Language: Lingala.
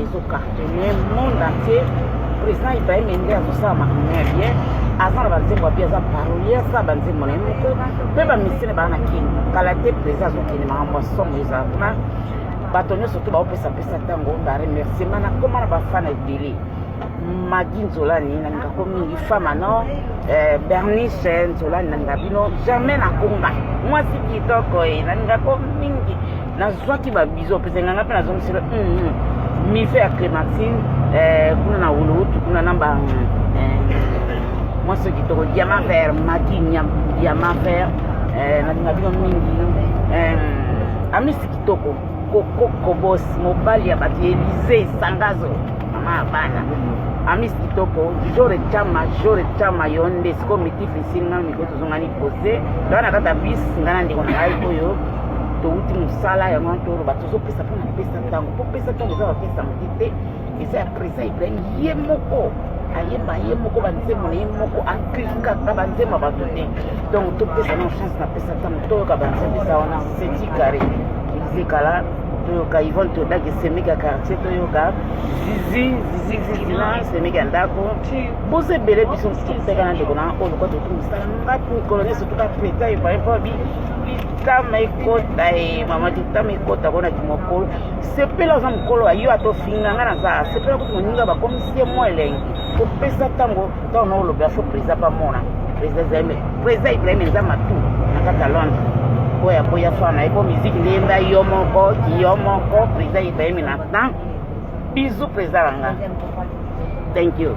ezo cartonne monde entier président ibrahim ende azosala makambo ya bien aza na banzembo ya bien aza parolier asala banzembo na ye moko mpe bamisene baa na kini kala te président azokende makambo ya somo ezala kuna bato nyonso to baopesapesa ntango baremerciement nakoma na bafana ebele magi nzolani nalinga ko mingi fama no eh, bernice nzolani nalinga bino jamais nakonga mwasi kitoko e eh, nalinga ko mingi nazwaki babizo mpese nganga mpe nazongisela mm, mm. miso ya clémentine eh, kuna na wuluwutu kuna na ba eh, mwasi kitoko diamant vert maki diamant vert eh, nalinga bino mingi amisi kitoko kokokobos mobali ya bato elize sangazo mama ya bana amis kitoko jore chama jore chama yo nde siko mitifisi ngai mikoto ozongani pose ngai na kata bis ngai na ndeko na ngai oyo towuti mosala yango wana toloba tozopesa mpo na pesa ntango mpo pesa ntango eza bapesa moke te eza ya président ibrahim ye moko ayemba ye moko banzembo na ye moko aklikaka banzembo bato te donc topesa na chance na pesa ntango toyoka banzembo eza wana seti carré ezekala toyoka ivone todaki semeki ya quartier toyoka zizi zizi zizina semeki ya ndako boza ebele biso mosusu koteka na ndeko na oyo lokwa totu mosala ngai mikolo nyonso toka preta epaepabi litama ekota e mama litama ekota kona kimokolo sepela aza mokolo ayo ata ofinga nga naza sepela kuti moninga bakomisi ye mwa elengi kopesa ntango ntango na olobela fo président bamona président ibrahim eza matu na kaka londre oyo akoya fana ye po miziki nde yemba yo moko yo moko président ibrahim na temps bizu président na nga thank you